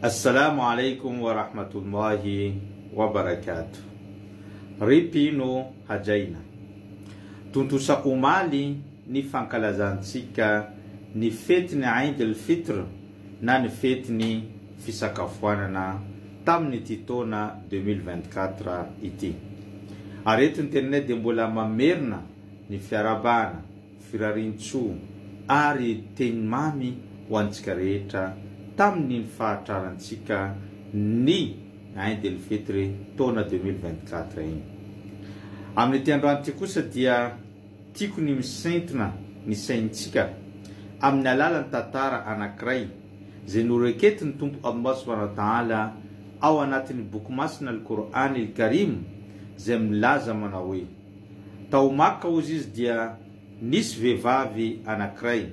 Assalamo alaikum wa rahmatullahi wa barakatuh Ry mpino hajaina. Tontosa omaly ny fankalazantsika ny fetin'ny Eid el Fitr na ny fetin'ny fisakafoanana tamin'ity taona deux mille vingt-quatre ity. Ary eto internet dia mbola mamerina ny fiarahabana firarian-tsoa ary teny mamy ho antsika rehetra tamin' ny fahatrarantsika ny Ain de ny fety re taona deux mille vingt quatre iny. Amin' ity androany ity kosa dia tiako ny misintona ny saintsika amin' ny alalan' ny tantara anankiray izay noreketin' ny Tompo Allah Subhanahu wa Ta'ala ao anatin' ny Boky Masina Al-Qur'an Al-Karim izay milaza manao hoe. Tao Makka hozy izy dia nisy vehivavy anankiray.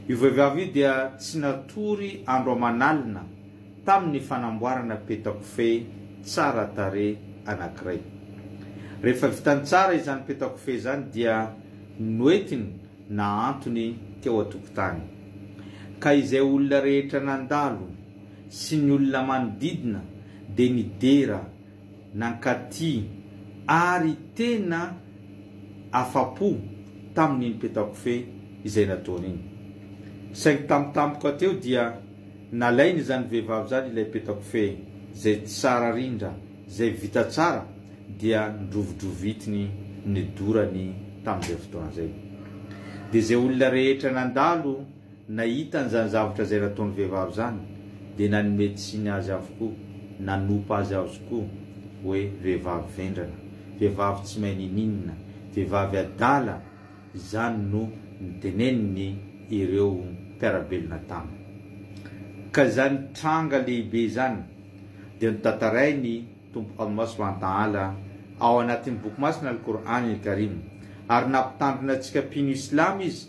Io vehivavy io dia tsy natory andro aman'alina tamin'ny fanamboarana petakofehy tsara tarehy anankiray. Rehefa vitany tsara izany petakofehy izany dia noentiny nahantony teo an-tokotany. Ka izay olona rehetra nandalo sy ny olona manodidina dia nidera Nankaty ary tena afa-po tamin'iny petakofehy izay nataony iny. Saingy tampotampoka teo dia nalain'izany vehivavy izany ilay petakofehy izay tsara rindra, izay vita tsara dia ndrovidrovitiny nidorany tamin'izay fotoana izay. Dia izay olona rehetra nandalo. Nahita an'izany zavatra izay nataon'ny vehivavy izany, dia nanome tsiny azy avokoa, nanompa azy aozokoa hoe vehivavy vendrana, vehivavy tsy mahay ninininona, vehivavy adala, izany no niteneniny ireo mpiara-belona taminy. Ka izany tranga lehibe izany dia notantarain'ny Tompo Allah subhanahu wa ta'ala ao anatin'ny Boky Masina Al-Qur'an Al-Karim, ary nampitandrina antsika mpino Islama Izy,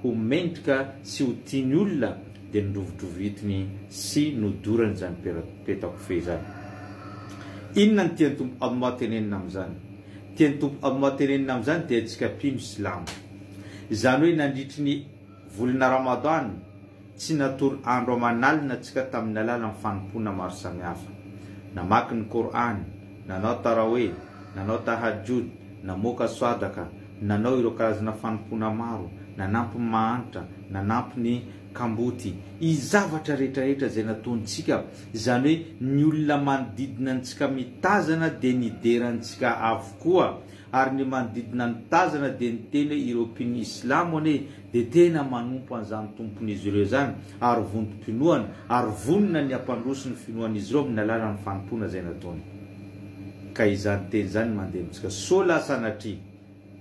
ho mentika sy ho tiany olona dia nodrovidrovitiny sy nodorany izany peta-kofehy izany. Inona no tian'i Tompo Allah tenenina amin'izany? Tian'i Tompo Allah tenenina amin'izany dia antsika mpino silamo. Izany hoe nandritry ny volana Ramadan, Tsy natory andro aman'alina tsika tamin'ny alalan'ny fanompoana maro samihafa. Namaky ny Kor'any, nanao Tarawih, nanao Tahajjud, namoaka Swadaka, nanao ireo karazana fanompoana maro, nanampy ny mahantra, nanampy ny kamboty, y zavatra rehetrarehetra izay nataontsika, izany hoe ny olona manodidina antsika mitazana dia nidera antsika avokoa, ary ny manodidina nitazana dia niteny hoe ireo mpino islamo anie dia tena manompo an'izany Tompon'izy ireo izany, ary vontom-pinoana, ary vonona ny hampandroso ny finoan'izy ireo amin'ny alalan'ny fanompoana izay nataony. Ka izany teny izany no mandeha amintsika. Sola sanatria,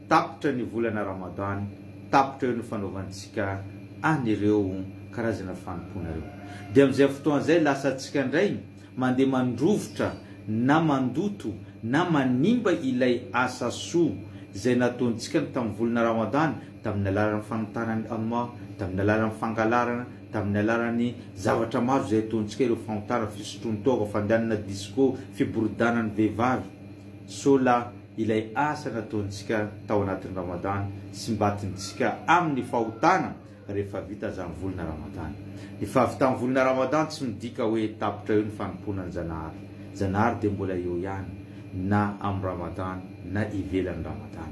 tapitra ny volana Ramadan, tapitra eo ny fanaovantsika an'ireo karazana fanompoana ireo. Dia amin'izay fotoana izay, lasa tsika indray mandeha mandrovitra na mandoto na manimba ilay asa soa izay nataontsika ny tamin'ny volana Ramadan, tamin'ny alalan'ny fanotanan'ny Amah, tamin'ny alalan'ny fangalarana, tamin'ny alalan'ny zavatra maro izay ataontsika, ireo fahotana, fisotroan-toaka, fandehanana disco, fiboridana ny vehivavy, sao la ilay asa nataontsika tao anatin'ny Ramadan simbatintsika amin'ny fahotana rehefa vita izany volana Ramadan. Ny fahavitan'ny volana Ramadan tsy midika hoe tapitra eo ny fanompoana ny Zanahary. Zanahary dia mbola eo ihany na amin'ny Ramadan na ivelan'ny Ramadan.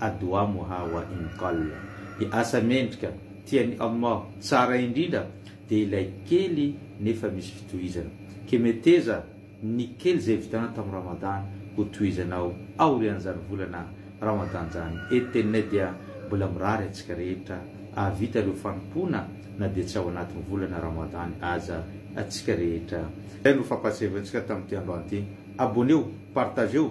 A Dua Muha wa in Qalla, dia asa mendrika tian'i Allah tsara indrindra dia ilay kely nefa misy fitohizana. Ke meteza ny kely izay vitanao tamin'ny Ramadany ho tohizanao aorian'izany volana Ramadany izany. E Tenne dia mbola mirary antsika rehetra hahavita ireo fanompoana na dia tsy ao anatin'ny volana Ramadany aza atsika rehetra. Izay no fampahatsiahivantsika tamin'ity androany ity. Abonnez-o, partagez-o.